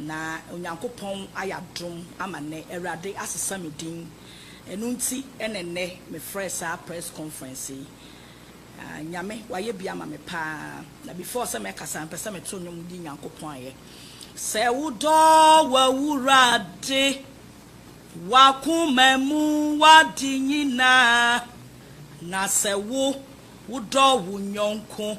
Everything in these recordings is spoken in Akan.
Na Onyankopɔn ayɛ adom ama nnɛ, Awurade asesa me din. Ɛno nti na nnɛ mefrɛɛ saa press conference yi. Ah, Nyame, wayɛ bi ama me pa ara. Na before sɛ mɛkasa, mepɛ sɛ meto nnwom yi Nyankopɔn ayɛ. Sɛ wodɔ w'Awurade, w'akoma mu, w'ade nyinaa, na sɛ wo, wodɔ wo yɔnko.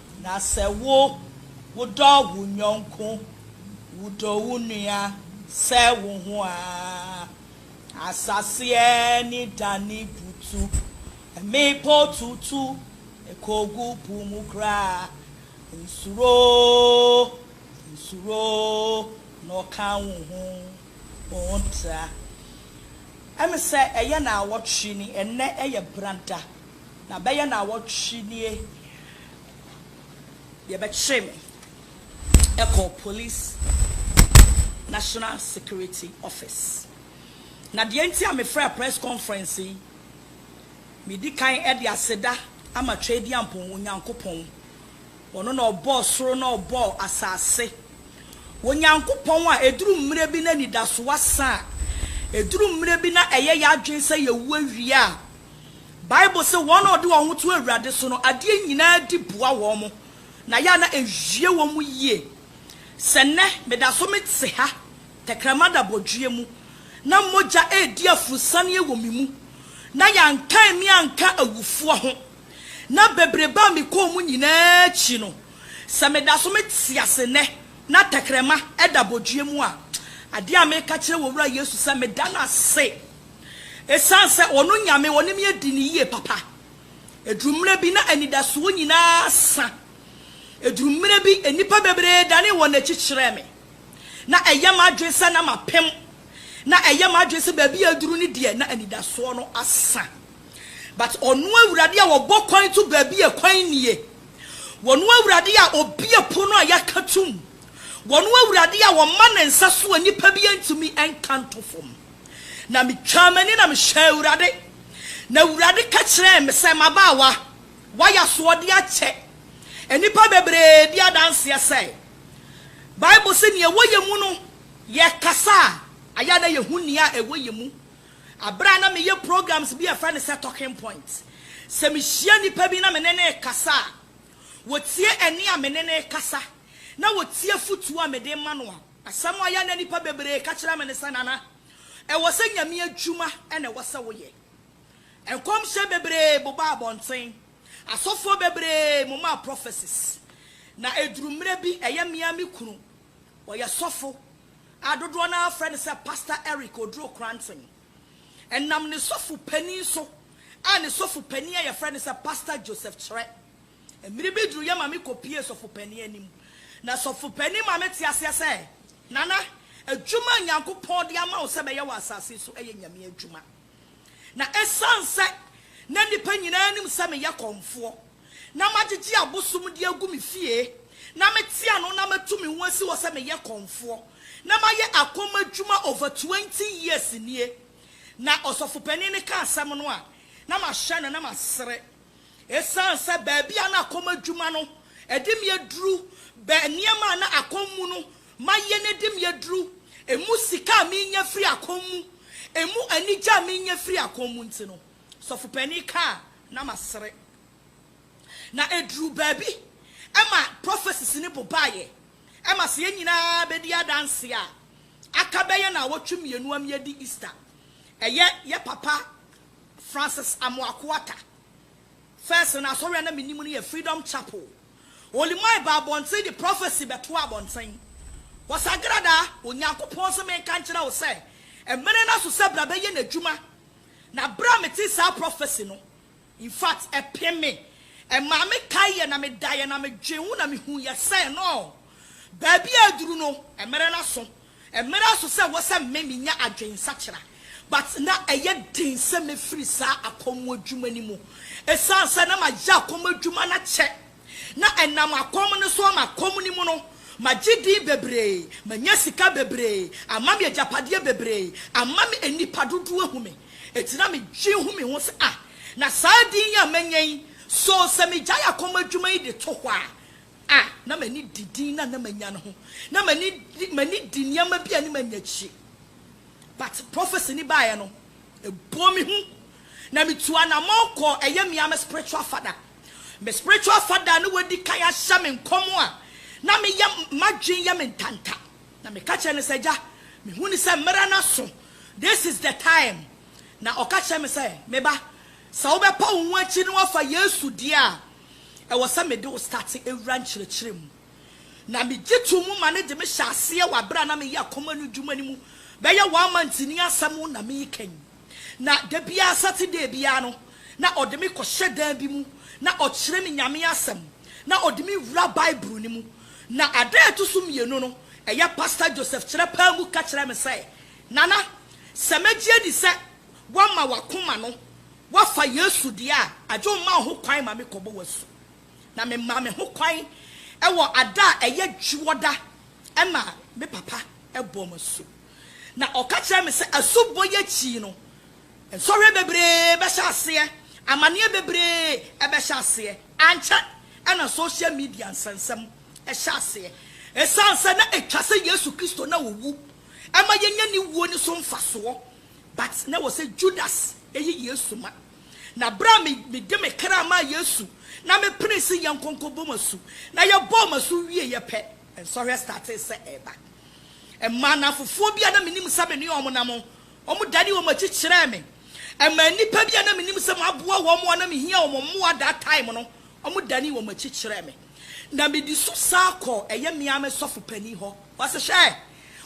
Na sɛ wo, wodɔ wo yɔnko, wodɔ wo nua sɛ wo ho aa, asaseɛ ani dane butu, mmepɔ tutu kɔgu po mu koraa, nsuro, nsuro na ɔka wo ho ntra. Ɛm sɛ ɛyɛ naawɔtwe ni, ɛnnɛ ɛyɛ brada. Na bɛyɛ naawɔtwe nie deɛ bɛkyere me ɛkɔɔ police national security office. Na deɛ nti a mefrɛɛ press conference yi, medi kan de aseda ama Tweadiampɔn Onyankopɔn, ɔno na ɔbɔɔ soro na ɔbɔɔ asase, Onyankopɔn a ɛduru mmerɛ bi na anidasoɔ asa a, ɛduru mmerɛ bi na ɛyɛ yɛn adwene sɛ yɛwu awie a, Bible se wɔn a wɔde wɔn ho to Awurade so no, adeɛ nyinaa di boa wɔn, na yɛ a na ɛwie wɔn yie. Sɛ nnɛ meda so mete ha, tɛkrɛma da bɔdweɛ mu, na mogya redi aforosianeɛ wɔ me mu, na yɛankan me anka awufoɔ ho, na bebrebe a mekɔɔ mu nyinaa akyi no, sɛ meda so mete ase nnɛ na tɛkrɛma da bɔdweɛ mu a, adeɛ a mereka kyerɛ wɔ Wura Yesu sɛ meda no ase. Esiane sɛ ɔno Nyame ɔne me adi no yie papa, ɛduru mmerɛ bi na anidasoɔ nyinaa sa. Ɛduru mmerɛ bi nnipa bebree danee wɔn akyi kyerɛɛ me. Na ɛyɛ m'adwene sɛ na mapem. Na ɛyɛ m'adwene sɛ baabi a aduru no deɛ na anidasoɔ no asa. But ɔno Awurade a ɔbɔ kwan to baabi a kwan nnie, ɔno Awurade a ɔbue pono a yɛaka tom, ɔno Awurade a ɔma ne nsa so a nnipa bi ntumi nka nto fam. Na mitwaa m'ani na mehwɛɛ Awurade, na Awurade ka kyerɛɛ me sɛ, M'abaawa, woayɛ asoɔden akyɛ nnipa bebree bi adanseɛ sɛ, Bible se nea ɛwɔ yɛn mu no, yɛkasa a, ayɛ a na yɛhu nea ɛwɔ yɛn mu. Berɛ a na meyɛ programs bi a yɛfrɛ no sɛ Talking Point, sɛ mehyia nnipa bi na me ne no rekasa a, wɔtie ɛnne a me ne no rekasa, na wɔtie afotuo a mede rema no a, Asɛm a ɔyɛ na nnipa bebree ka kyerɛ me ne sɛ, Nana, ɛwɔ sɛ Nyame adwuma na ɛwɔ sɛ woyɛ. Nkɔmhyɛ bebree bobaa abɔnten, asɔfoɔ bebree momaa prophecies, na ɛduru mmerɛ bi ɛyɛ me ara me kunu, ɔyɛ sɔfo a dodoɔ no ara frɛ no sɛ Pastor Eric Oduro Kranten. Ɛnam ne sɔfo panin so a ne sɔfo panin a yɛfrɛ no sɛ Pastor Joseph Kyerɛ. Mmere bi duruiɛ ma mekɔpuee sɔfopanin anim, na sɔfopanin maa mete aseɛ sɛ, Nana, adwuma a Nyankopɔn de ama wo sɛ bɛyɛ wɔ asase so yɛ Nyame adwuma. Na ɛsiane sɛ na nnipa nyinaa nim sɛ meyɛ kɔmfoɔ, na magyegye abosom de agu me fie, na mete ano na matu me ho asi hɔ sɛ meyɛ kɔmfoɔ, na mayɛ akɔm adwuma over twenty years nie. Na ɔsɔfopanin no ka asɛm no a, na mahyɛ no na masere. Esiane sɛ baabi a na akɔm adwuma no de me aduru, bɛ nneɛma a na akɔm mu no mayɛ no de me aduru, emu sika a menya firi akɔm mu, emu anigye a menya firi akɔm mu nti no, sɔfo panin ka a, na masere. Na eduruu baabi ma prophecies no bobaeɛ. Ɛma sɛ yɛn nyinaa bɛdi adanseɛ a, aka bɛyɛ nnawɔtwe mmienu a meadi Easter. Ɛyɛ yɛ papa Francis Amoako Atta. First no asɔre a na menim no yɛ Freedom Chapel. Olimai baa abɔnten de prophecy bɛtoaa abɔnten. Wɔsagradaa Onyankopɔn se menka nkyerɛ wo sɛ mmere no aso sɛ bra bɛyɛ n'adwuma. Na bere a metee saa prophecy no, in fact, ɛpem me. Ɛmaa mekaeɛ na medaeɛ na medwen ho na mehuiɛ sɛ no. Baabi a aduru no, mmerɛ no aso. Mmerɛ aso sɛ ɛwɔ sɛ me menya adwen nsakyera but na ɛyɛ den sɛ mɛfiri saa akɔm adwuma no mu ɛsiane sɛ na mayɛ akɔm adwuma no akyɛ. Na ɛnam akɔm no so ama akɔm no mu no magye din bebree, manya sika bebree, ama me agyapadeɛ bebree, ama me nnipa dodoɔ ahu me. Ɛnti na me dwen hu me ho sɛ ah na saa din yi a manya yi so sɛ megyae akɔm adwuma yi de to hɔ a a na m'ani di din no a na manya no ho. Na m'ani di m'ani di nneɛma bi a anim annyɛ akyire. But prophecy no baeɛ no, ɛbɔɔ me hu. Na metuu anamɔn kɔɔ ɛyɛ me ara me spiritual father. Me spiritual father a na wadi kan ahyɛ me nkɔm a na meyɛ m'adwene yɛ me ntanta. Na meka kyerɛɛ no sɛ, Agya, mehu no sɛ mmerɛ no aso. This is the time. Na ɔka kyerɛɛ me sɛ, Me ba, sɛ wobɛpa wo ho akyiri na woafa Yesu deɛ a, ɛwɔ sɛ mede wo starte wura nkyerɛkyerɛ mu. Na megye too mu ma no de me hyɛ aseɛ wɔ aberɛ a na meyɛ akoma no dwuma no mu bɛyɛ one month ni asɛm na mekan. Na da biara Saturday biara no na ɔde me kɔhyɛ dan bi mu na ɔkyerɛ me Nyame asɛm na ɔde me wura Bible no mu. Na ada a ɛto so mmienu no ɛyɛ Pastor Joseph kyerɛ paa mu ka kyerɛɛ me sɛ, Nana, sɛ mɛgye adi sɛ woama w'akoma no Woafa Yesu deɛ a, agye woma wo ho kwan ma me kɔbɔ w'asu. Na me maa me ho kwan wɔ ada a ɛyɛ dwoɔda ɛma me papa bɔɔ me asu. Na ɔka kyerɛɛ me sɛ asu bɔ yi akyi no nsɔhwɛ bebree bɛhyɛ aseɛ, amaneɛ bebree ɛbɛhyɛ aseɛ. Ankyɛ ɛna social media nsɛnsɛm ɛhyɛ aseɛ. Ɛsiane sɛ na ɛtwa sɛ Yesu Kristo na ɔwu ɛma yɛnya ne wuo no so mfasoɔ But na ɛwɔ sɛ Judas yi Yesu ma. Na berɛ a mede me kra maa Yesu na mepenee se yɛnkɔnkɔbɔ mo asu, na yɛbɔɔ mo asu wieeɛ pɛ, nsɔhwɛ startee sɛ ɛreba. Ɛmaa nnamfofoɔ bi a na menim sɛ me ne wɔn nam no, wɔdanee wɔn akyi kyerɛɛ me. Ɛmaa nnipa bi a na menim sɛ maboa wɔn a na mehia wɔn mmoa that time no, wɔdanee wɔn akyi kyerɛɛ me. Na medi so san kɔɔ ɛyɛ me ara me sɔfo panin hɔ. Ɔse, Hwɛ!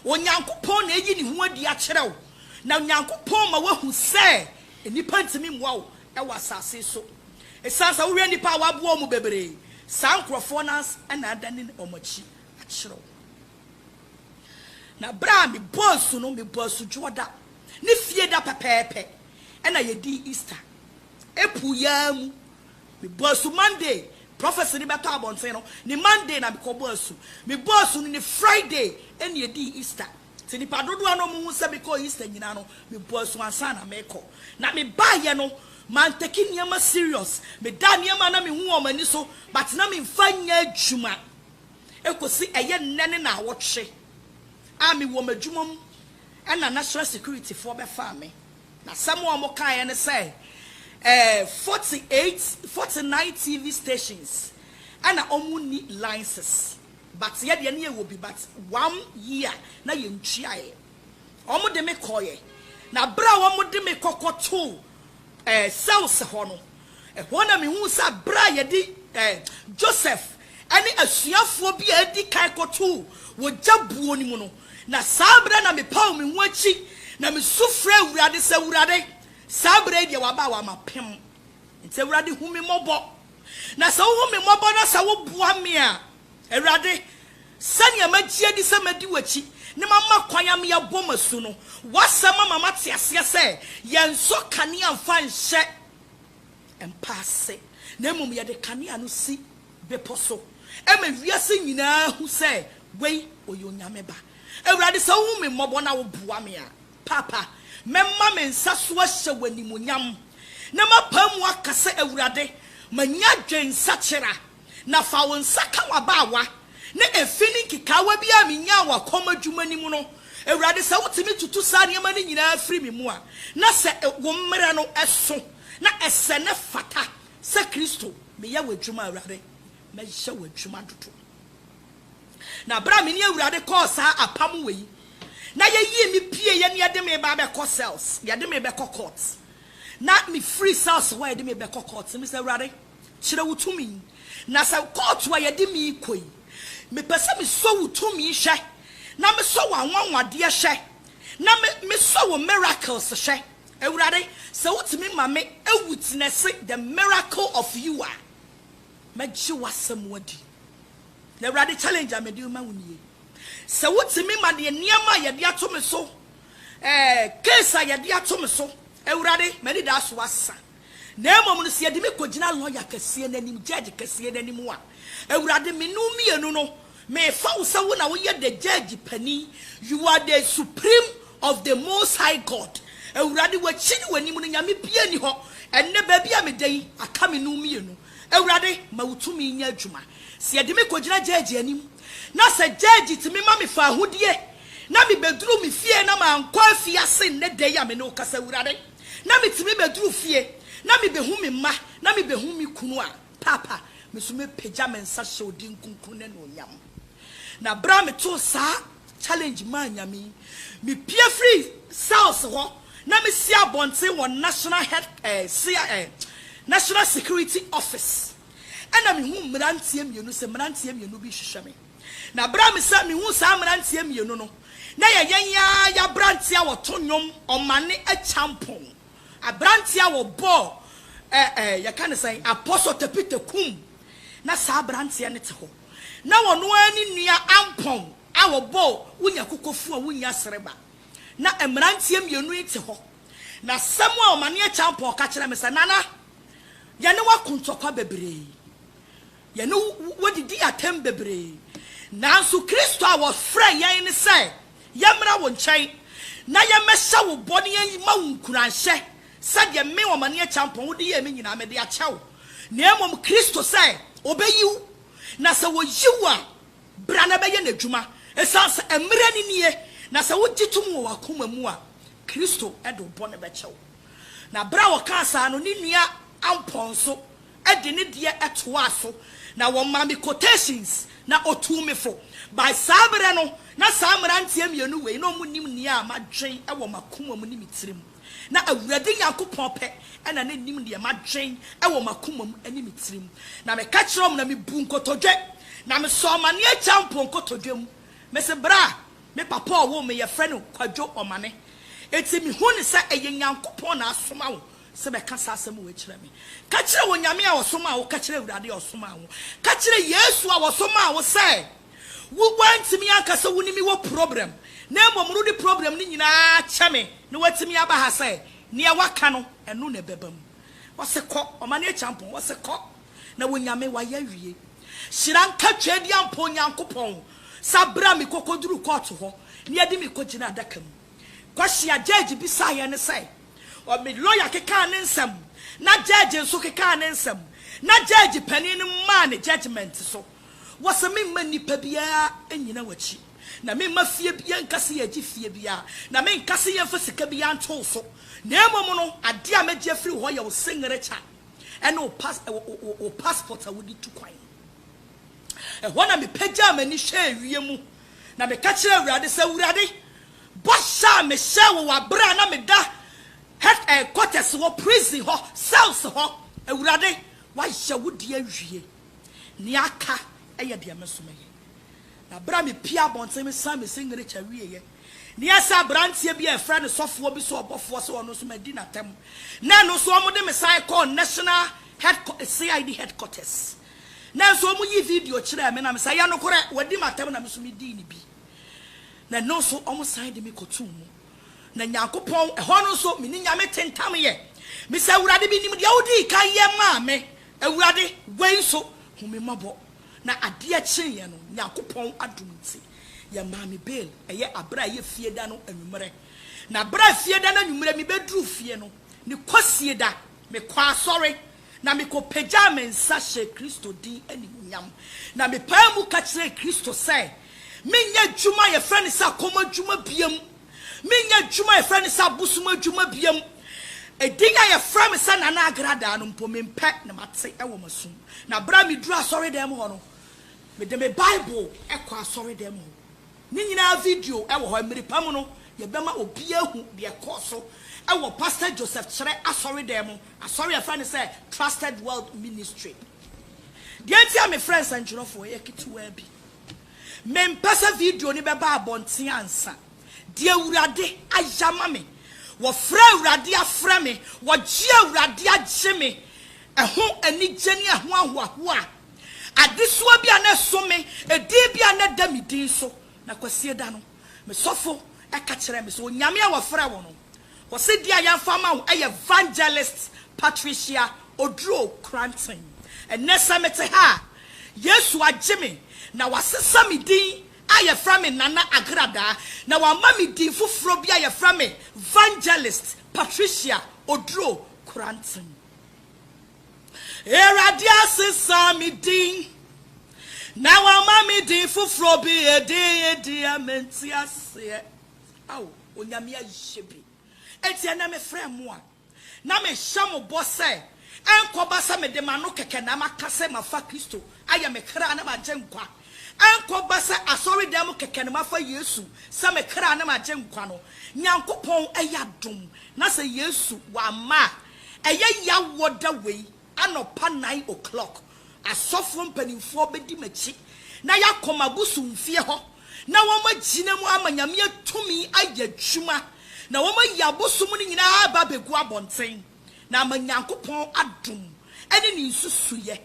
Onyankopɔn na ayi ne ho adi akyerɛ wo, na Onyankopɔn ma woahu sɛ nnipa ntumi mmoa wo wɔ asase so. Esiane sɛ wohwɛ nnipa a wɔaboa wɔn bebree, saa nkurɔfoɔ no ara na adane wɔn akyi akyerɛ wo. Na berɛ a mebɔɔ asu no, mebɔɔ Asudwoɔ da ne Fie da pɛpɛɛpɛ na yɛdii Easter. April yi ara mu Mebɔɔ asu Monday, prɔfɛse no bɛtɔ abɔnten no, ne Monday na mekɔbɔɔ asu. Mebɔɔ asu no ne Friday na yɛdii Easter. Te nnipa dodoɔ no a wɔhu sɛ mekɔɔ Easter nyinaa no, mebɔɔ asu ansa na merekɔ. Na mebaeɛ no, mantake nneɛma serious. Medaa nneɛma a na mehu wɔ wɔn ani so but na memfa nyɛ adwuma kɔsi ɛyɛ nnɛ ne naawɔtwe a mewɔ m'adwuma mu na national security foɔ bɛfaa me. N'asɛm a wɔkaeɛ ne sɛ, ɛɛ, 48, 49 TV stations na wɔnni licenses but yɛ deɛ na yɛwɔ bi but one year na yɛntuaeɛ. Wɔde me kɔeɛ na berɛ a wɔde me kɔkɔtoo ɛɛ, cells hɔ no, Ɛhɔ na mihuu sɛ bere a yɛde Joseph ne asuafoɔ bi a edi kan kɔtoo wɔ gya buo no mu no, na saa bere na mepaw me ho akyi na misu frɛɛ Awurade sɛ, Awurade, saa bere yi deɛ waba a wama pem. Enti Awurade hu me mmɔbɔ. Na sɛ wohu me mmɔbɔ na sɛ woboa me a, Awurade, sɛnea magye adi sɛ mɛdi w'akyi na mama kwan ama yɛabɔ m'asu no, w'asɛm ama mate aseɛ sɛ yɛnsɔ kanea mfa nhyɛ mpa ase, na mmom yɛde kanea no si bepɔ so ma wiase nyinaa hu sɛ wei ɔyɛ Onyame Ba. Awurade, sɛ wohu me mmɔbɔ na woboa me a, Paapa, mɛma me nsa so ahyɛ w'animuonyam, na mapae mu aka sɛ, Awurade, manya adwensakyera. Na fa wo nsa ka w'abaawa na efi ne nkekaawa bi a minyaa wɔ kɔm adwuma no mu no, Awurade, sɛ wotumi tutu saa nneɛma no nyinaa firi me mu a, na sɛ wo mmara no so na ɛsɛ na ɛfata sɛ Kristo, meyɛ w'adwuma, Awurade, mɛyɛ w'adwuma dodo. Na bere a me ne Awurade kɔɔ saa apam wɔ yi, na yɛyii me pieeɛ na yɛde me ba abɛkɔ cells, yɛde me bɛkɔ court, na mefiri cells hɔ a yɛde me bɛkɔ court, mebisa Awurade, Kyerɛ wo tumi. Na sɛ kɔɔto a yɛde me rekɔ yi, mepɛ sɛ mesɔ wo tumi hwɛ, na mesɔ w'anwanwadeɛ hwɛ, na me, mesɔ wo miracles hwɛ. Awurade, sɛ wotumi ma me a witnɛse the miracle of you a, mɛgye w'asɛm adi. Na Awurade, challenge a mede rema wo nie. Sɛ wotumi ma deɛ nneɛma a yɛde ato me so, ɛɛ, case a yɛde ato me so, Awurade, m'anidaso asa. Na mmom no, sɛ yɛde me kɔgyina lɔya kɛseɛ no anim, gyɛɛgye kɛseɛ no anim a, Awurade, me ne wo mmienu no, mefa wo sɛ wo na woyɛ the gyɛɛgye panin, you are the supreme of the Most High God. Awurade, w'akyi ne w'anim no, nyame biara nni hɔ. Ɛnnɛ, baabi a meda yi, aka me ne wo mmienu. Awurade, ma wo tumi nyɛ adwuma. Sɛ yɛde me kɔgyina gyɛɛgye anim, na sɛ gyɛɛgye tumi ma mefa ahodie, na mebɛduru me fie na mankɔ afiase nnɛ da yi a me ne wo kasa, Awurade, na metumi bɛduru fie na mebɛhu me mma na mebɛhu me kunu a, Paapa, me nso mɛpagya me nsa hyɛ wo din kronkron no anuonyam. Na berɛ a metoo saa challenge maa Nyame yi, mepue firii cells hɔ na mesi abɔnten wɔ National Head, eh, cia, eh, National Security Office. Ɛna mehuu mmeranteɛ mmienu sɛ mmeranteɛ mmienu bi rehwehwɛ me. Na bere a mesa mihuu saa mmeranteɛ mmienu no, na ɛyɛ yɛn yi ara yɛ aberanteɛ a wɔto nnwom, ɔmane akyampɔn, aberanteɛ a wɔbɔɔ ɛ ɛ yɛka no sɛn, Apɔsɔ Tepite Kum, na saa aberanteɛ no te hɔ, na ɔno ara ne nua Ampɔn a wɔbɔɔ Wonya Kokofuo a Wonnya Sereba, na mmeranteɛ mmienu yi te hɔ, na asɛm a ɔmane akyampɔn ka kyerɛɛ me sɛ, Nana, yɛne wo ako ntɔkwa bebree, Yɛne wo didii atɛm bebree. Nanso Kristo a wɔfrɛɛ yɛn ne sɛ yɛmmra wo nkyɛn na yɛmmɛhyɛ wo bɔ na yɛmma wo nkuranhyɛ sɛdeɛ me, Ɔmane Akyampɔn, wode yɛɛ me nyinaa mede akyɛ wo, na mmom Kristo sɛ ɔbɛyi wo, na sɛ ɔyi wo a, bra na bɛyɛ n'adwuma, ɛsiane sɛ mmerɛ no nie, na sɛ wogye tom wɔ w'akoma mu a, Kristo de wo bɔne bɛkyɛ wo. Na berɛ a ɔkaa saa no, ne nua Ampɔn nso de ne deɛ toaa so na wɔmaa me quotations na ɔtuu me fo. By saa berɛ no na saa mmeranteɛ mmienu wei na wɔn nim nea madwen wɔ m'akoma mu ne me tirim. Na Awurade Nyankopɔn pɛ na na nim deɛ madwen wɔ m'akoma mu ne me tirim. Na me ka kyerɛɛ wɔn na me buu nkotodwe na me sɔɔ amaneɛ kyɛɛ mpo nkotodwe mu. Me se berɛ a me papa ɔwoo me yɛfrɛ no Kwadwo Ɔmane. Enti me hu no sɛ ɛyɛ Nyankopɔn na asoma wo sɛ bɛka saa asɛm wei kyerɛ me. Ka kyerɛ Onyame a ɔsomaa wo, ka kyerɛ Awurade a ɔsomaa wo, ka kyerɛ Yesu a ɔsomaa wo sɛ wo woantumi anka sɛ wo ne me wɔ problem na mmom rode problem no nyinaa kyɛ me na woatumi aba ha sɛ neɛ woaka no ɛno na ɛbɛba mu. Ɔse kɔ, ɔma no akyampɔn, ɔse kɔ na Onyame wayɛ awie. Hyira nka Tweaduampɔn Nyankopɔn sɛ abra me kɔkɔduru kɔɔto hɔ na yɛde me kɔgyina adaka mu. Kwasia Gyagye bisaeɛ ne sɛ. Ɔ me lɔya kekaa ne nsɛm, na gyɛɛgye nso kekaa ne nsɛm, na gyɛɛgye panin no maa ne gyɛgyemɛnte so. Wɔ sɛ memma nnipa biara nnyina w'akyi, na memma fie biara nka sɛ yɛregye fie biara, na menka sɛ yɛmfa sika biara nto wo so, na mmom no, adeɛ a mɛgye afiri wo hɔ yɛ wo seŋerekya ne wo pas wo wo wo paspɔt a wode tu kwan no. Ɛhɔ na mepagyaa m'ani hwɛɛ wiem, na meka kyerɛɛ Awurade sɛ, Awurade, Bɔhyɛ a mehyɛɛ wo wɔ bere a na meda head eh quarters hɔ, prison hɔ, cells hɔ, Awurade, woayɛ wo deɛ awie. Nea aka yɛ deɛ me nso mɛyɛ. Na bere a mepue abɔnten mesan me singirikya wieeɛ, na ɛyɛ sɛ aberanteɛ bi a yɛfrɛ no sɔfoɔ bi sɛ ɔbɔfoɔ sɛ ɔno nso madi n'atam, na ɛno nso wɔde me san kɔɔ national head qua CID head quarters. Nanso wɔyii video kyerɛɛ me na mesɛ, ɛyɛ nokorɛ, wadi m'atam na me nso medii ne bi. na ɛno nso wɔsan de me kɔtoo mu. Na Nyankopɔn, ɛhɔ no nso me ne Nyame tentamyɛ. Mese, Awurade, menim deɛ wodii kan yɛ maa me. Awurade, wei nso, hu me mmɔbɔ. Na adeɛ kyeeɛ no, Nyankopɔn adom nti, yɛmaa me bail, ɛyɛ aberɛ a ɛyɛ Fieda no anwummerɛ. Na berɛ a Fieda no anwummerɛ mebɛduruu fie no, ne Kwasieda, mekɔɔ asɔre, Na mikopagyaa me nsa hyɛɛ Kristo din animuonyam, na mepaa mu ka kyerɛɛ Kristo sɛ menyɛ adwuma a yɛfrɛ no sɛ akɔm adwuma biam, menyɛ adwuma a yɛfrɛ no sɛ abosom adwuma biam. Edin a yɛfrɛ me sɛ Nana Agradaa no mpo, mempɛ na mate wɔ m'asom. Na bere a miduu asɔredɛm hɔ no, mede me Bible kɔɔ asɔredɛm hɔ. Ne nyinaa video wɔ hɔ. Mmere pa mu no, yɛbɛma obiara ahu deɛ ɛkɔɔ so wɔ Pastor Joseph Kyerɛ asɔredɛm Asɔre a yɛfrɛ no sɛ Trusted World Ministry. Deɛ nti a mefrɛ nsɛntwerɛfoɔ yɛ ketewaa bi. Mempɛ sɛ video no bɛba abɔnten ansa. Deɛ Awurade ayɛ ama me, wɔfrɛ Awurade afrɛ me, wɔgye Awurade agye me, ɛho anigye ne ɛho ahoahoa, adesoa bi a na ɛso me, edin bi a na ɛda me din so. Na Kwasida no, me sɔfo ka kyerɛɛ me sɛ, Onyame a wɔfrɛ wo no, Ɔse deɛ a yɛmfa ama wo ɛyɛ Vangelist Patricia Oduro Kranten. Ɛnnɛ sɛ mete ha a, Yesu agye me na wasesa me din a yɛfrɛ me Nana Agradaa na wama me din foforɔ bi a yɛfrɛ me Vangelist Patricia Oduro Kranten. Awurade asesa me din na wama me din foforɔ bi, ɛdin deɛ mente aseɛ. Ao Onyame ayɛ bi. Enti ɛnnɛ mefrɛ mo a, na mehyɛ mo bɔ sɛ ɛnkɔba sɛ mede m'ano kɛkɛ na maka sɛ mafa Kristo ayɛ me kra ne m'agyenkwa, ɛnkɔba sɛ asɔredan mu kɛkɛ na mafa Yesu sɛ me kra ne m'agyenkwa no. Nyankopɔn yɛ adom na sɛ Yesu wamma a, ɛyɛ yaw wɔ da wei Anɔpa nine o'clock, asɔfoɔ mpanimfoɔ bɛdi m'akyi na yɛakɔ m'abosomfie hɔ na wɔagyina mu ama Nyame tumi ayɛ adwuma na wɔayi abosom no nyinaa aba abɛgu abɔnten na ama Nyankopɔn adom ne Ne nsusuiɛ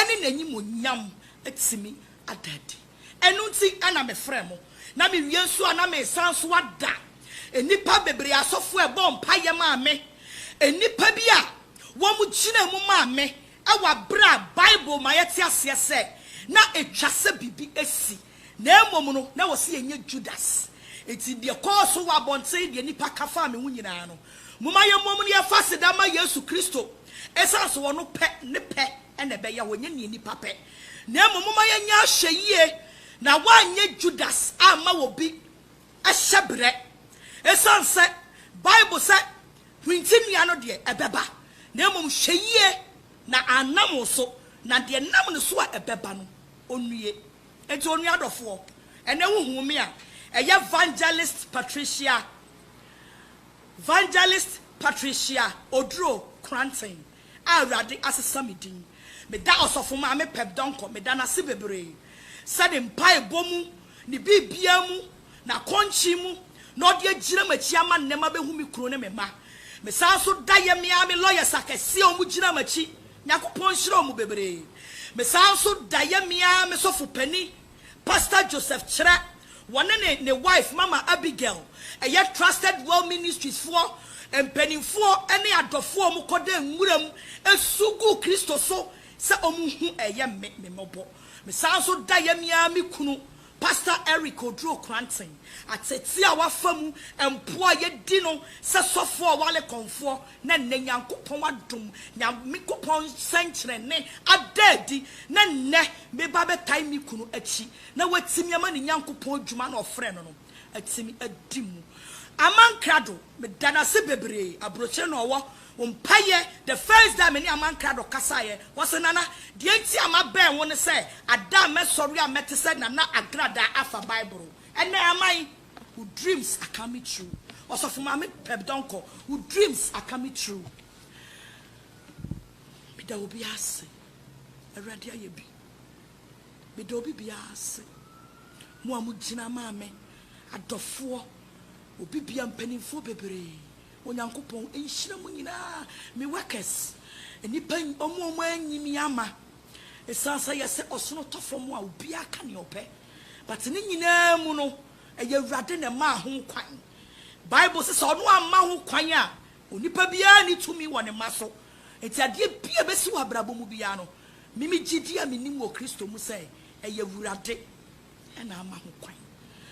ne N'animuonyam atumi ada adi. Ɛno nti na mefrɛɛ mo, na mewie nso a na meresan nso ada nnipa bebree asɔfo a ɛbɔɔ mpaeɛ maa me, nnipa bi a wɔgyinaa mu maa me wɔ aberɛ a Bible ma yɛte aseɛ sɛ na ɛtwa sɛ biribi asi, na mmom no na wɔse yɛnyɛ Judas. Enti deɛ ɛkɔɔ so wɔ abɔnten, deɛ nnipa ka faa me ho nyinaa no, momma yɛmmom na yɛmfa aseda mma Yesu Kristo, ɛsiane sɛ ɔno pɛ, ne pɛ na ɛbɛyɛ hɔ, ɛnyɛ deɛ nnipa pɛ. Na mmom momma yɛnyɛ ahwɛyie na wɔanyɛ Judas amma obi hyɛberɛ. Ɛsiane sɛ Bible sɛ hwinti nnua no deɛ ɛbɛba, na mmom hwɛ yie na annam wo so, na deɛ ɛnam ne so a ɛbɛba no ɔnnue. Enti onua adɔfoɔ, ɛnnɛ wohuu me a, ɛyɛ Vangelist Patricia, Vangelist Patricia Oduro Kranten. a Awurade asesa me din. Meda Ɔsɔfo Maame Peb Donkor, meda no ase bebree sɛ ne mpaebɔ mu, ne biribiara mu, n'akɔnkye mu na ɔde agyina m'akyi ama nnɛ mabehu me kunu ne me mma. Mesan nso da yɛ me ara me lawyers akɛse a wɔgyina m'akyi, Nyankopɔn nhyira wɔn bebree. Mesan nso da yɛ me ara me sɔfo panin, Pastor Joseph Kyerɛ, wɔne ne ne wife Mama Abigail, ɛyɛ Trusted Well Ministries foɔ mpaninfoɔ ne adɔfoɔ a wɔn kɔda nwura mu su gu Kristo so sɛ wɔn hu ɛyɛ me me mmɔbɔ. Me san nso da yɛ me ara me kunu Pastor Eric Oduro Kranten, atetee a wafa mu mpoa a yɛdi no sɛ sɔfoɔ a wale kɔnfoɔ, Na nnɛ Nyankopɔn adom, Nyankopɔn nsɛnkyerɛnne ada adi, na nnɛ me ba bɛtae ne kunu akyi, na watumi ama ne Nyankopɔn adwuma no a ɔfrɛɛ no no atumi adi mu. Aman Krado, meda no ase bebree, aburokyire na ɔwɔ, wo mpaeɛ, the first day a me ne Aman Krado kasaeɛ, ɔse, Nana, deɛ nti a mabɛn wo ne sɛ, ada a mɛsɔre a mɛte sɛ Nana Agradaa afa Bible, ɛnna Aman, Wo dreams are coming true Ɔsɔfo Maame Peb Donkor wo dreams are coming true Meda obiara ase Awurade ayɛ bi Meda obi biara ase Mo a mo gyina maa me Adɔfoɔ Obi biara mpaninfoɔ bebree Onyankopɔn nhyira mo nyinaa Me workers Nnipa wɔn a wɔanyi me ama Ɛsiane sɛ yɛsɛ ɔsono tɔ fam a obiara ka nea ɔpɛ. But ne nyinaa mu no, ɛyɛ Awurade na ɛmaa ho kwan. Bible se sɛ ɔno amma ho kwan a, onipa biara nni tumi wɔ ne mma so. Enti adeɛ biara a ɛbɛsi wɔ abrabɔ mu biara no, me me gyidie a menim wɔ Kristo mu sɛ ɛyɛ Awurade na ama ho kwan.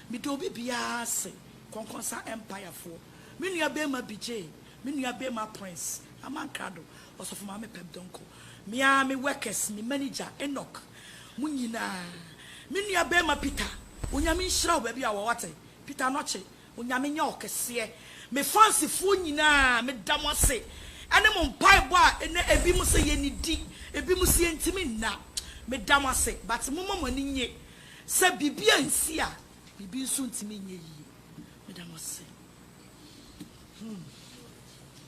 Meda obi biara ase, Kɔnkɔnsa Empire foɔ, me nua barima Bijay, me nua barima Prince, Amankrado, Ɔsɔfo Maame Pep Donkor, me ara me workers, me manager Enoch, Mo nyinaa. Me nua barima Peter Onyame nhyira wo baabi a wɔ wate Peter Anokye Onyame nyɛ wo kɛseɛ Me fans foɔ nyinaa meda mo ase ɛne mo mpaebɔ a ɛnɛ ebi mo sɛ yɛnnidi ebi mo sɛ yɛntimi nna meda mo ase but momma mo ani nye sɛ biribi ansi a biribi nso ntimi nyɛ yie meda mo ase hmm.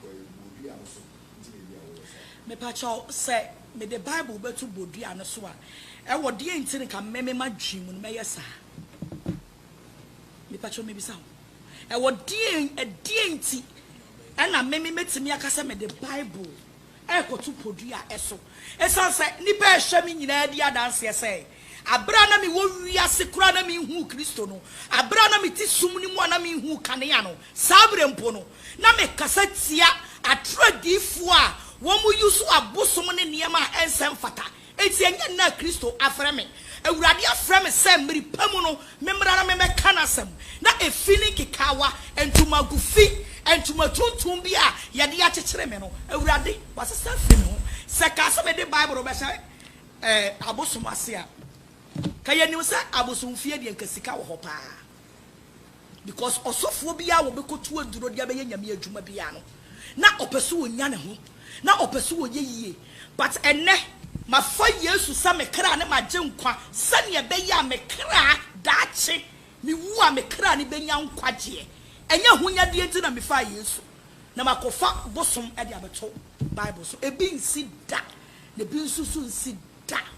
bodua no so nti na ebia woyɛ saa. Mepakyɛw, sɛ mede Bible bɛto bodua no so a, ɛwɔ deɛn nti na nka me, me m'adwene mu no mɛyɛ saa? Mepakyɛw mebisa wo, ɛwɔ deɛn, ɛdeɛn nti ɛna me, me mɛtumi aka sɛ mede Bible ɛrekɔto podua ɛso? Ɛsiane sɛ nnipa a ɛhwɛ me nyinaa di adanseɛ sɛ, aberɛ a na mewɔ wiase koraa na menhuu Kristo no, aberɛ a na mete sum no mu a na menhuu kanea no, saa berɛ mpo no, na mekasa tia atoro adiyifoɔ a wɔn use abosom ne nneɛma a ɛnsɛ mfata, enti ɛnyɛ nnɛ a Kristo afrɛ me. Awurade afrɛ me sɛ mmere pa mu no memmra na memmɛka n'asɛm. Na efi ne nkekaawa, ntomago fi, ntoma tuntum bi a yɛde akyekyere me no, Awurade wasesa afiri me ho. Sɛ kaa sɛ mede Bible rebɛhyɛ abosom ase a, ka yɛnim sɛ abosomfie deɛ nka sika wɔ hɔ paa. Because ɔsɔfoɔ biara a wɔbɛkɔtu aduro de abɛyɛ Nyame adwuma biara no, na ɔpɛ sɛ ɔnya ne ho, na ɔpɛ sɛ ɔyɛ yie. But ɛnnɛ, mafa Yesu sɛ me kra ne m'agyenkwa sɛdeɛ ɛbɛyɛ a me kra, daakye mewu a, me kra no bɛnya nkwagyeɛ. Ɛnyɛ ahonyadeɛ nti na mefaa Yesu na makɔfa bosom de abɛto Bible so. Ebi nsi da, na ebi nso so nsi da.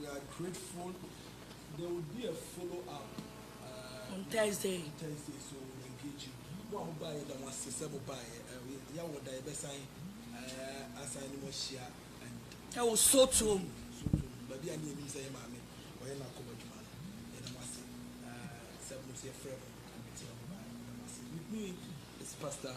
We are grateful there will be a follow up uh, on Thursday. On Thursday, so we'll engage you. Mo a mo baa yɛ da mo ase sɛ mo baa yɛ uh, yɛ wɔ da yɛ bɛ san uh, asan ne mo ahyia and. Ɛwɔ sotuom. Sotuom baabi a ne yɛ nim sɛ yɛ maame ɔyɛ na akɔbɔ adwuma no yɛ da mo ase uh, sɛ mo nso yɛ frɛ mo and mo ti na mo baa yɛ da mo ase. With me is Pastor.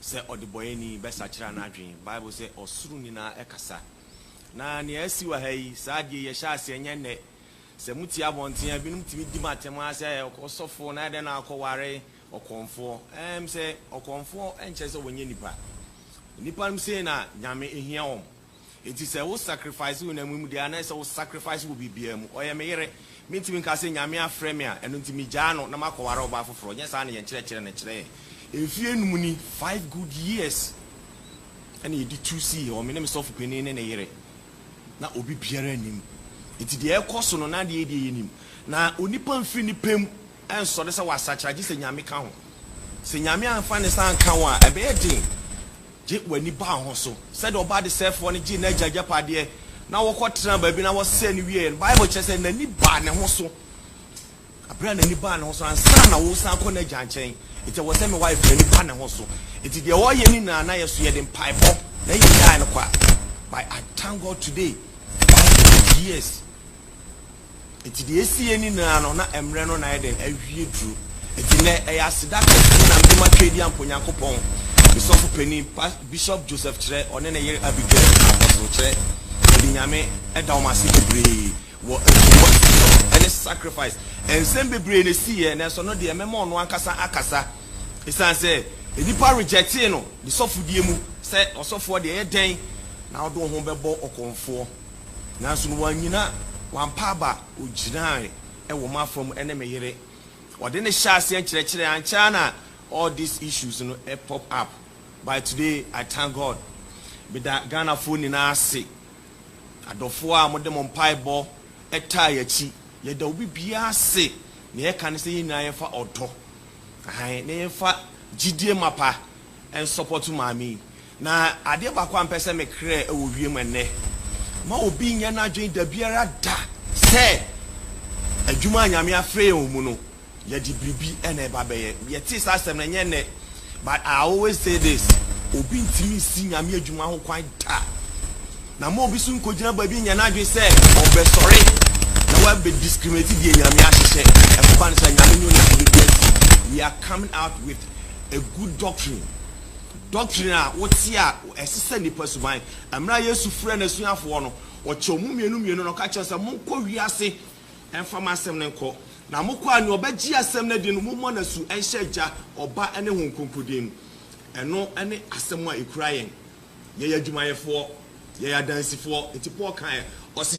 sɛ ɔdebɔeɛni bɛsakyera n'adwene. Bible sɛ ɔsoro nyinaa kasa. Na nea asi wɔ ha yi, saa adeɛ yi ɛhyɛ aseɛ nyɛ nnɛ. Sɛ motie abɔnten a, binom tumi di mo atɛm ara sɛ ɔsɔfoɔ, na adɛn na wakɔware ɔkɔmfoɔ. Ɛɛm sɛ ɔkɔmfoɔ nkyerɛ sɛ ɔnyɛ nipa. Nnipa nom sei na Nyame hia wɔn. Enti sɛ wo sacrifice honam yi mu deɛ anaa sɛ wo sacrifice wɔ biribiara mu, ɔyɛ me yere. Mentumi nka sɛ Nyame afrɛ me a, ɛno nti megyaa no na makɔware ɔbaa foforɔ. Nyɛ saa na yɛn kyerɛkyerɛ no kyerɛ yɛn. Mfeɛ nnum ni, five good years, ɛna yɛde tu sii hɔ, me ne me sɔfo panin ne ne yere. Na obi biara nnim. Enti deɛ ɛrekɔ so no, na adeɛ yɛ deɛ yɛnim. Na onipa mfiri ne pɛ mu nsɔre sɛ wasakyera gye sɛ Nyame ka ho. Sɛ Nyame amfa ne nsa anka wo a, ɛbɛyɛ den. Gye w'ani ba ho so. Sɛdeɛ ɔba adesɛefoɔ no gyee n'agya agyapadeɛ na wɔkɔtenaa baabi na wɔsɛee no wieeɛ no, Bible kyerɛ sɛ n'ani baa ne ho so. Berɛ a n'ani baa ne ho so, ansa na woresan akɔ n'agya nkyɛn, enti ɛwɔ sɛ me wife no ani ba ne ho so. Enti deɛ ɔyɛ no nyinaa na yɛ so, yɛde mpaebɔ na yɛgyae no kɔ a, but I thank God today, wife no, yes. Enti deɛ ɛsi yɛ nyinaa no, na mmerɛ no na ayɛ dɛn? Awie duro. Enti nnɛ, ɛyɛ aseda kɛseɛ na mede matwa adi ampa Onyankopɔn, me sɔfo panin, Pas, Bishop Joseph Kyerɛ, ɔne ne yere Abigail, Apostle Kyerɛ, mede Nyame da wɔn ase bebree wɔ nsumansumɔ ne sacrifice. Nsɛm bebree na ɛsiiɛ, nanso ɛno deɛ mɛma ɔno ankasa akasa. Ɛsiane sɛ nnipa rejectee no ne sɔfodie mu, sɛ ɔsɔfoɔ deɛ ɛyɛ dɛn na wode wo ho bɛbɔ ɔkɔmfoɔ? Nanso no wannyina, wampa aba, ogyinae wɔ m'afa mu ne me yere. Ɔde no hyɛɛ aseɛ nkyerɛkyerɛ, ankyɛ ara na all these issues no pop up, by today I thank God. Meda Ghanafoɔ nyinaa ase, adɔfoɔ a mode mo mpaebɔ taa yɛn akyi. Yɛda obi biara ase, nea yɛka ne sɛ yɛn nyinaa yɛmfa ɔdɔ, ahan, na yɛmfa gyidie mapa. nsɔpɔto maa me yi. Na adeɛ baako a mpɛ sɛ mekrɛ wɔ wiem ɛnnɛ, ma obi nnyɛ n'adwene dabiara da sɛ adwuma a Nyame afrɛ yɛn wɔ mu no, yɛde biribi na ɛba bɛyɛ. Yɛtee saa asɛm no, ɛnyɛ nnɛ, but I always say this, obi ntumi nsi Nyame adwuma ho kwan da. Na ma obi nso nkɔgyina baabi nnyɛ n'adwene sɛ ɔbɛsɔre na wabɛ discriminate deɛ Nyame ahyehyɛ. Ɛkɔba no saa, Nyame ne onipa bɛgu asi. We are coming out with a good doctrine, doctrine a wote a ɛsesa nnipa suban. Mmerɛ a Yesu frɛ n'asuafoɔ no, ɔkyɛ wɔn mmienu mmienu na ɔka kyerɛ sɛ, monkɔ wiase mfa m'asɛm no nkɔ. Na mokɔ a, nea ɔbɛgye asɛm no adi no, mommɔ no asu nhyɛ Agya, Ɔba ne Honhom Kronkron din mu. Ɛno ne asɛm a ɛkura yɛn. Yɛyɛ adwumayɛfoɔ, yɛyɛ adansifoɔ. Nti Paul kaeɛ, ɔse.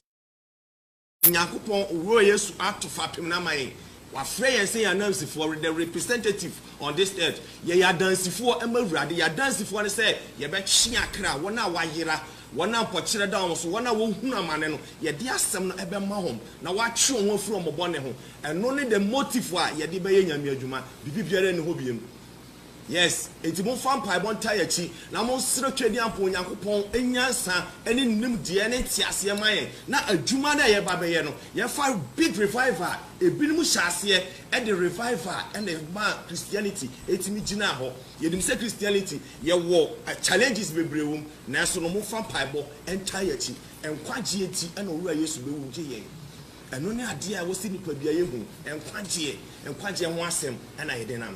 Nyankopɔn Wura Yesu ato fapem no ama yɛn. Wafrɛ yɛn sɛ yɛn anansifoɔ, re the representative on this earth. Yɛyɛ adansifoɔ ma Awurade. Yɛn adansifoɔ ne sɛ yɛbɛtwe akra, wɔn a wɔayera, wɔn a mpɔkyerɛ da wɔn so, wɔn a wɔhunu amane no, yɛde asɛm no bɛma wɔn na wɔatwe wɔn ho afiri wɔn bɔne ho. Ɛno ne the motive a yɛde bɛyɛ Nyame adwuma. Biribi biara nni hɔ biom. Yes, enti momfa mpaebɔ ntaa yɛn akyi, na monsrɛ Twadiampo Nyankopɔn nyansa ne nimdeɛ ne nteaseɛ ma yɛn, na adwuma no a yɛreba abɛyɛ no, yɛmfa big revival a ebinom hyɛ aseɛ de revival na ɛmaa Christianity tumi gyinaa hɔ. Yɛnim sɛ Christianity yɛwɔ challenges bebree wɔ mu, nanso no momfa mpaebɔ ntaa yɛn akyi. Nkwagyeɛ nti na Owura Yesu bɛwu gye yɛn. Ɛno ne adeɛ a ɛwɔ sɛ nnipadua yɛ hu, nkwagyeɛ, nkwagyeɛ ho asɛm na yɛde nam.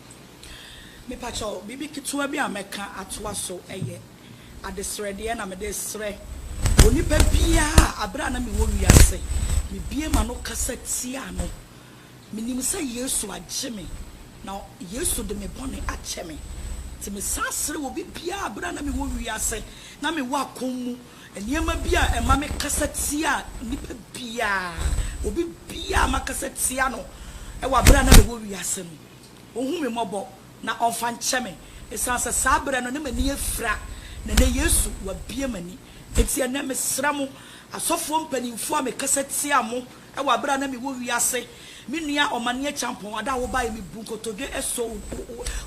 Mepakyɛw, biribi ketewa bi a mɛka atoa so yɛ adesrɛdeɛ na mede resrɛ onipa biara a berɛ a na mewɔ wiase, mebue m'ano kasa tia no. Menim sɛ Yesu agye me, na Yesu de me bɔne akyɛ me. Nti mesan srɛ obi biara a berɛ a na mewɔ wiase na mewɔ akɔm mu nneɛma bi a ɛma mekasa tia nipa biara, obi biara a makasa tia no wɔ berɛ a na mewɔ wiase no, Ɔnhu me mmɔbɔ na ɔmfa nkyɛ me, ɛsiane sɛ saa berɛ no na m'ani afira, na ɛnnɛ Yesu wabue m'ani. Enti ɛnnɛ mesrɛ mo, asɔfoɔ mpanimfoɔ a mekasa tia mo wɔ aberɛ a na mewɔ wiase, me nua Ɔmane Akyampɔn, ada a wobaeɛ, mebu nkotodwe sɔ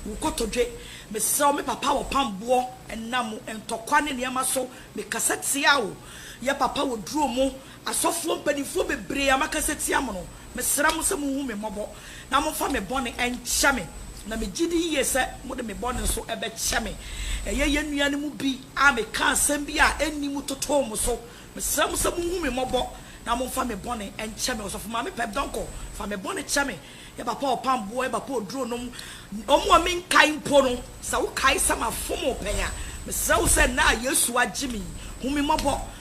wo kotodwe, mesrɛ wo, me papa wɔpam boɔ, ɛnam ntɔkwa ne nneɛma so, mekasa tia wo, yɛ papa wɔduro mo, Asɔfoɔ mpaninfoɔ bebree a maka sɛ tia mo no, mesrɛ mo sɛ monhu me mmɔbɔ na momfa me bɔne nkyɛ me, na megye di yie sɛ mode me bɔne nso bɛkyɛ me. Ɛyɛ yɛn nua no mu bi a mekaa asɛm bi a ɛnni mu totoo mo so. Mesrɛ mo sɛ monhu me mmɔbɔ na momfa me bɔne nkyɛ me. Ɔsɔfo Maame Pep Donkor, fa me bɔne kyɛ me. Yɛ Bapa Ɔpamboɔ, yɛ Bapa Oduronom, wɔn a menkae mpo no, sɛ wokae sɛ mafom wo pɛn a, mesrɛ wo sɛ ɛnnɛ a Yesu agye me yi, hu me mmɔbɔ